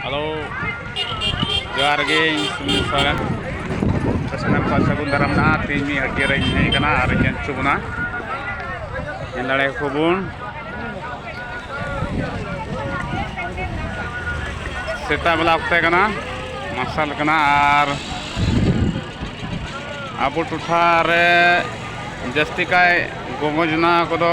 hello ᱡᱚᱦᱟᱨ ᱜᱮ ᱤᱧ ᱥᱩᱢᱤ ᱥᱚᱨᱮᱱ ᱥᱟᱱᱟᱢ ᱠᱚ ᱥᱟᱹᱜᱩᱱ ᱫᱟᱨᱟᱢ ᱱᱟ ᱛᱮᱦᱮᱧ ᱢᱤᱫ ᱦᱟᱹᱴᱭᱟᱹ ᱨᱮᱧ ᱦᱮᱡ ᱟᱠᱟᱱᱟ ᱟᱨ ᱤᱧ ᱦᱚᱪᱚ ᱵᱚᱱᱟ ᱧᱮᱞ ᱫᱟᱲᱮ ᱟᱠᱚ ᱵᱚᱱ ᱥᱮᱛᱟᱜ ᱵᱮᱞᱟ ᱚᱠᱛᱮ ᱠᱟᱱᱟ ᱢᱟᱨᱥᱟᱞ ᱠᱟᱱᱟ ᱟᱨ ᱟᱵᱚ ᱴᱚᱴᱷᱟ ᱨᱮ ᱡᱟᱹᱥᱛᱤ ᱠᱟᱭ ᱜᱚᱜᱚ ᱡᱚᱱᱟ ᱠᱚᱫᱚ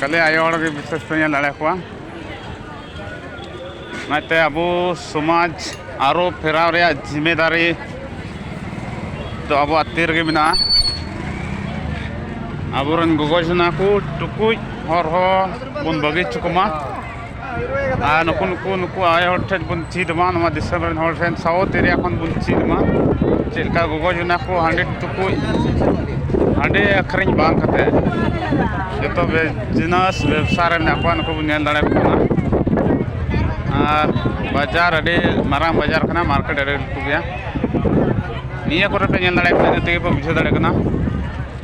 ᱠᱷᱟᱹᱞᱤ ᱟᱭᱳ ᱦᱚᱲ ᱜᱮ ᱵᱤᱥᱮᱥ ᱯᱮ ᱧᱮᱞ ᱫᱟᱲᱮ ᱠᱚᱣᱟ ᱚᱱᱟᱛᱮ ᱟᱵᱚ ᱥᱚᱢᱟᱡᱽ ᱟᱨᱚ ᱯᱷᱮᱨᱟᱣ ᱨᱮᱭᱟᱜ ᱡᱤᱢᱮᱫᱟᱨᱤ ᱫᱚ ᱟᱵᱚᱣᱟᱜ ᱛᱤ ᱨᱮᱜᱮ ᱢᱮᱱᱟᱜᱼᱟ ᱟᱵᱚᱨᱮᱱ ᱜᱚᱜᱚ ᱡᱚᱱᱟ ᱠᱚ ᱴᱩᱠᱩᱡ ᱦᱚᱨᱦᱚ ᱵᱚᱱ ᱵᱟᱹᱜᱤ ᱦᱚᱪᱚ ᱠᱚᱢᱟ ᱟᱨ ᱱᱩᱠᱩ ᱱᱩᱠᱩ ᱱᱩᱠᱩ ᱟᱭᱳ ᱦᱚᱲ ᱴᱷᱮᱱ ᱵᱚᱱ ᱪᱮᱫ ᱢᱟ ᱱᱚᱣᱟ ᱫᱤᱥᱚᱢ ᱨᱮᱱ ᱦᱚᱲ ᱴᱷᱮᱱ ᱥᱟᱶᱛ ᱮᱨᱤᱭᱟ ᱠᱷᱚᱱ ᱵᱚᱱ ᱪᱮᱫ ᱢᱟ ᱪᱮᱫ ᱞᱮᱠᱟ ᱜᱚᱜᱚ ᱡᱚᱱᱟ ᱠᱚ ᱦᱟᱺᱰᱤ ᱴᱩᱠᱩᱡ ᱦᱟᱺᱰᱤ ᱟᱹᱠᱷᱨᱤᱧ ᱵᱟᱝ ᱠᱟᱛᱮ ᱡᱚᱛᱚ ᱵᱤᱡᱽᱱᱮᱥ ᱵᱮᱵᱽᱥᱟ ᱨᱮ ᱢᱮᱱᱟᱜ ᱠᱚᱣᱟ ᱱᱩᱠᱩ ᱵᱚᱱ ᱧᱮᱞ ᱫᱟᱲᱮ ᱠᱚ ᱠᱟᱱᱟ ᱟᱨ ᱵᱟᱡᱟᱨ ᱟᱹᱰᱤ ᱢᱟᱨᱟᱝ ᱵᱟᱡᱟᱨ ᱠᱟᱱᱟ ᱢᱟᱨᱠᱮᱴ ᱟᱹᱰᱤ ᱞᱟᱹᱴᱩ ᱜᱮᱭᱟ ᱱᱤᱭᱟᱹ ᱠᱚᱨᱮ ᱯᱮ ᱧᱮᱞ ᱫᱟᱲᱮᱭᱟᱜ ᱠᱟᱱᱟ ᱤᱱᱟᱹ ᱛᱮᱜᱮ ᱯᱮ ᱵᱩᱡᱷᱟᱹᱣ ᱫᱟᱲᱮᱭᱟᱜ ᱠᱟᱱᱟ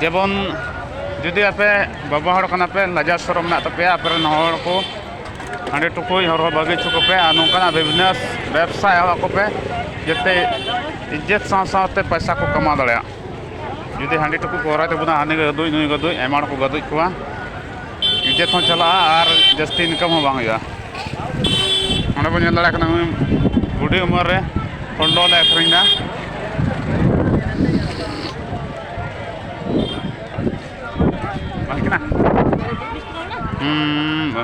ᱡᱮᱢᱚᱱ ᱡᱩᱫᱤ ᱟᱯᱮ ᱵᱟᱵᱟ ᱦᱚᱲ ᱠᱟᱱᱟ ᱯᱮ ᱞᱟᱡᱟᱣ ᱥᱚᱨᱚᱢ ᱢᱮᱱᱟᱜ ᱛᱟᱯᱮᱭᱟ ᱟᱯᱮ ᱨᱮᱱ ᱦᱚᱲ ᱠᱚ ᱦᱟᱺᱰᱤ ᱴᱩᱠᱩᱡ ᱦᱚᱨᱦᱚ ᱵᱟᱹᱜᱤ ᱦᱚᱪᱚ ᱠᱚᱯᱮ ᱟᱨ ᱱᱚᱝᱠᱟᱱᱟᱜ ᱵᱤᱡᱽᱱᱮᱥ ᱵᱮᱵᱽᱥᱟ ᱮᱦᱚᱵ ᱟᱠᱚ ᱯᱮ ᱡᱟᱛᱮ ᱤᱡᱽᱡᱚᱛ ᱥᱟᱶ ᱥᱟᱶᱛᱮ ᱯᱚᱭᱥᱟ ᱠᱚ ᱠᱟᱢᱟᱣ ᱫᱟᱲᱮᱭᱟᱜ ᱡᱩᱫᱤ ᱦᱟᱺᱰᱤ ᱴᱩᱠᱩᱡ ᱠᱚ ᱦᱚᱨᱦᱚᱭ ᱛᱟᱵᱚᱱᱟ ᱦᱟᱹᱱᱤ ᱜᱟᱹᱫᱩᱡ ᱱᱩᱭ ᱜᱟᱹᱫᱩᱡ ᱟᱭᱢᱟ ᱦᱚᱲ ᱠᱚ ᱜᱟᱹᱫᱩᱡ ᱠᱚᱣᱟ ᱤᱡᱮᱛ ᱦᱚᱸ ᱪᱟᱞᱟᱜᱼᱟ ᱟᱨ ᱡᱟᱹᱥᱛᱤ ᱤᱱᱠᱟᱢ ᱦᱚᱸ ᱵᱟᱝ ᱦᱩᱭᱩᱜᱼᱟ ᱚᱸᱰᱮ ᱵᱚᱱ ᱧᱮᱞ ᱫᱟᱲᱮᱭᱟᱜ ᱠᱟᱱᱟ ᱦᱩᱰᱤᱧ ᱩᱢᱮᱨ ᱨᱮ ᱦᱚᱞᱰᱚ ᱞᱮ ᱟᱹᱠᱷᱨᱤᱧ ᱮᱫᱟ ᱵᱟᱝ ᱠᱟᱱᱟ ᱦᱩᱸ